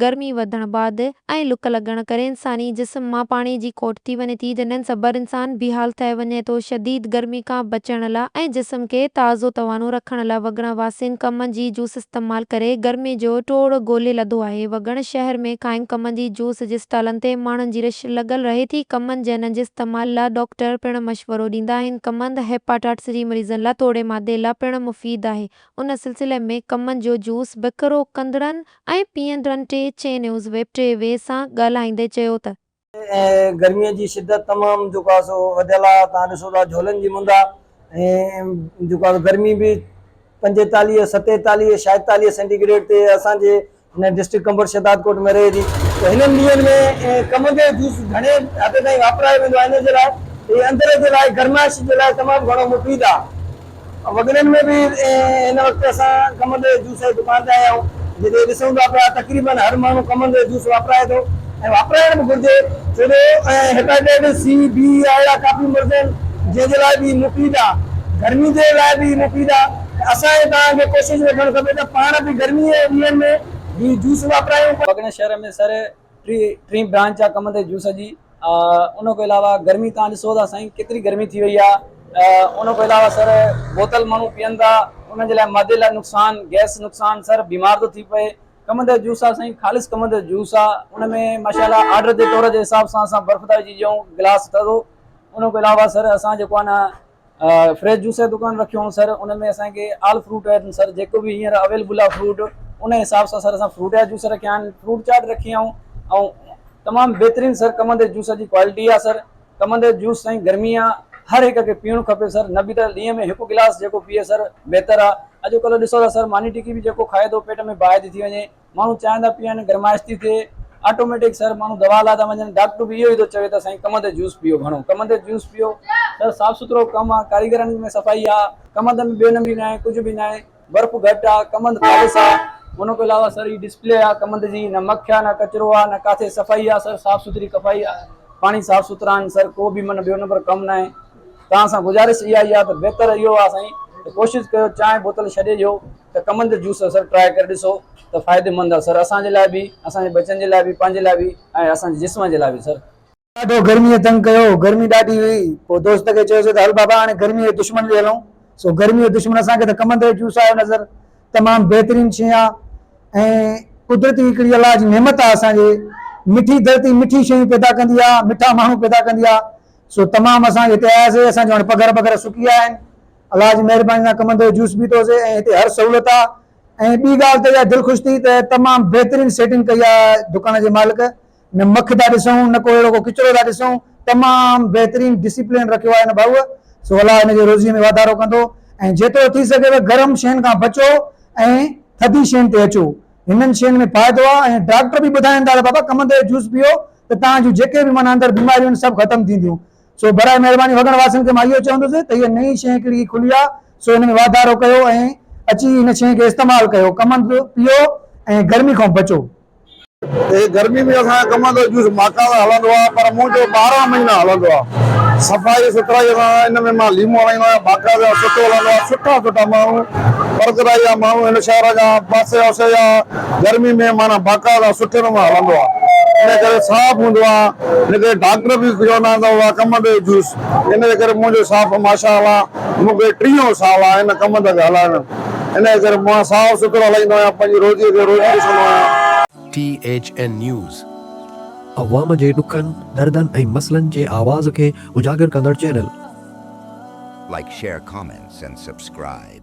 گرمي وڌڻ بعد ۽ لڪ لڳڻ ڪري انساني جسم مان پاڻي جي کوٽ ٿي وڃي ٿي جنھن سبر انسان بيحال ٿئي وڃي ٿو شديد گرمي کان بچڻ لا۽ جسم کي تازو توانو رکڻ لا وڳڻ واسين ڪم جي جوس استعمال ڪري گرمي جو ٽوڙ ڳولي لڌو آھي وڳڻ شھر ۾ قائم ڪم جي جوس جي اسٽالن تي ماڻھن جي رش لڳل رھي ٿي ڪم جنھن جي استعمال لا ڊاڪٽر پڻ مشورو ڏيندا آھن ڪم ھيپاٽائٽس جي مريضن لا توڙي معدي لا پڻ مفيد آھي ان سلسلي ۾ ڪم جو جوس بکرو ڪندڙن ۽ پي اين رن ٽي چين نيوز ويب ٽي وي سان ڳالهائيندي چيو ته. گرمي جي شدت تمام جيڪو آهي سو وڌيل آهي تان ڏسو ٿا جهولن جي مند آهي ۽ جيڪو آهي گرمي به پنجيتاليهه ستيتاليهه شايدتاليهه سينٽي گريڊ تي اسان جي هن ڊسٽرڪٽ ڪمبوڊ شهدادڪوٽ ۾ رهي ٿي ته هنن ڏينهن ۾ ڪمنگي جوس گهڻي حد تائين واپرايو ويندو آهي ان جي لاء هي اندر جي لاء گرمائش جي لاء تمام گهڻو مفيد آهي. وڳڙن ۾ به هن وقت اسان ڪمند جي جوس جي دڪان تي آيا آهيون، جتي ڏسون ٿا پيا تقريبن هر ماڻهو ڪمند جو جوس واپرائي ٿو ۽ واپرائڻ به گهرجي ڇو جو هيپاٽائيٽس سي، بي يا اهڙا ڪافي مرض آهن جنهن جي لاء به هي مفيد آ، گرمي جي لاء به هي مفيد آ ته اسان ۽ توهان کي ڪوشش رکڻ کپي ته پاڻ به گرمي جي ڏينهن ۾ هي جوس واپرايون. وڳڙن شهر ۾ سر ٽين برانچ جا ڪم تي جوس جي ان کان علاوه گرمي تان ڏسو ٿا سائين ڪيتري گرمي ٿي وئي آهي ان کان علاوه سر بوتل ماڻهو پيئن ٿا ان جي لاء معدي لاء نقصان گئس نقصان سر بيمار ٿو ٿي پئي ڪم تي جوس آهي سائين خالص ڪم تي جوس آهي ان ۾ ماشاءالله آرڊر جي طور جي حساب سان اسان برف ٿا وجهي ڏيون گلاس ٿڌو ان کان علاوه سر اسان جيڪو آهي نه فريش جوس جو دڪان رکيو هئون سر ان ۾ اسان کي آل فروٽ سر جيڪو به هينئر اويلبل آهي فروٽ ان حساب سان سر اسان فروٽ جا جوس رکيا آهن فروٽ چاٽ رکي آهي ۽ تمام بهترين سر ڪمند جي جوس جي ڪوالٽي آهي سر ڪمند جو جوس سائين گرمي آ هر هڪ کي پيئڻو کپي سر نه به ته ڏينهن ۾ هڪ گلاس جيڪو پيئي سر بهتر آ اڄڪلهه ڏسو ٿا سر ماني ٽڪي به جيڪو کائي ٿو پيٽ ۾ باهه ٿي ٿي وڃي ماڻهو چانهه ٿا پيئن، گرمائش ٿي ٿئي، آٽوميٽڪ سر ماڻهو دوا لاء ٿا وڃن، ڊاڪٽر به اهو ئي ٿو چوي ته سائين ڪم تي جوس پيئو، گهڻو ڪم تي جوس پيئو، سر صاف سٿرو ڪم آ، ڪاريگرن ۾ صفائي آ، ڪم تي ۾ ٻيو نمبري ناهي، ڪجهه به ناهي، برف گهٽ آ، ڪم هنڌ خالص آ، ان کان علاوه سر هي ڊسپلي آ، ڪم هنڌ جي نه مک آ، نه ڪچرو آ، نه ڪاٿي صفائي آ، سر صاف سٿري ڪفائي آ، پاڻي صاف سٿرا آهن، سر ڪو به من ٻيو نمبر ڪم ناهي، توهان سان گذارش اها ئي آ ته بهتر اهو آ سائين ته ڪوشش ڪيو چانهه بوتل ڇڏي ڏيو، ته ڪمن تي جوس اثر ٽرائي ڪري ڏسو ته فائديمند آ سر اسان جي لاء به اسان جي ٻچن جي لاء به پنهنجي لاء به ۽ اسان جي جسم جي لاء به سر. ڏاڍو گرميء تنگ ڪيو گرمي ڏاڍي هئي پوء دوست کي چيوسي ته هل بابا هاڻي گرميء جي دشمن ڏي هلون سو گرميء جو دشمن اسان کي ته ڪمن تي جو جوس آيو نظر تمام بهترين شي آ ۽ قدرتي هڪڙي الله جي نعمت آ اسان جي مٺي ڌرتي مٺي شيون پيدا ڪندي آ مٺا ماڻهو پيدا ڪندي آ سو تمام اسان هتي آياسي اسان جون هاڻي پگهر ٻگهر سڪي ويا آهن. الله جي مهرباني سان ڪمندو هي جوس پيتو سي ۽ هتي هر سهولت آ ۽ ٻي ڳالهه ته اها دل خوش ٿي ته تمام بهترين سيٽنگ ڪئي آ دڪان جي مالڪ نه مک ٿا ڏسون نه ڪو اهڙو ڪو ڪچرو ٿا ڏسون تمام بهترين ڊسيپلين رکيو آ هن ڀائوء سو الله هن جي روزي ۾ واڌارو ڪندو ۽ جيترو ٿي سگهي ته گرم شين کان بچو ۽ ٿڌي شين تي اچو هنن شين ۾ فائدو آ ۽ ڊاڪٽر به ٻڌائين ٿا ته بابا ڪمندو هي جوس پيئو ته توهان جون جيڪي به معنيٰ اندر بيماريون آهن سڀ ختم ٿينديون سو براء مهرباني وڳڻ واسين کي مان اهو چوندس ته هيء نئين شيء ڪهڙي کلي آ، سو هن ۾ واڌارو ڪيو ۽ اچي هن شيء کي استعمال ڪيو، ڪمند پيئو ۽ گرمي کان بچو. هيء گرمي ۾ اسان جو ڪمند جو جوس ماڪا سان هلندو آ، پر مون جو ٻارهن مهينا هلندو آ. صفائي سٿرائيء سان ان ۾ مان ليمو هڻائيندو آهيان، باقاعده سٺو هلندو آ، سٺا سٺا ماڻهو، پرگرائي جا ماڻهو، هن شهر جا، پاسي اوسي جا، گرمي ۾ معنيٰ باقاعده سٺي نموني هلندو آ ان ڪري صاف هوندو آ ان ڪري ڊاڪٽر به چوندا آهن ته اها ڪم ڏي جوس ان جي ڪري منهنجو صاف ماشاء الله مون کي ٽيون سال آ ان ڪم کي هلائڻ ۾ ان جي ڪري مان صاف سٿرو هلائيندو آهيان پنهنجي روزي کي روزي ڏسندو آهيان. ٽي ايڇ اين نيوز، عوام جي ڏکن، دردن ۽ مسئلن جي آواز کي اجاگر ڪندڙ channel. Like share comments and subscribe.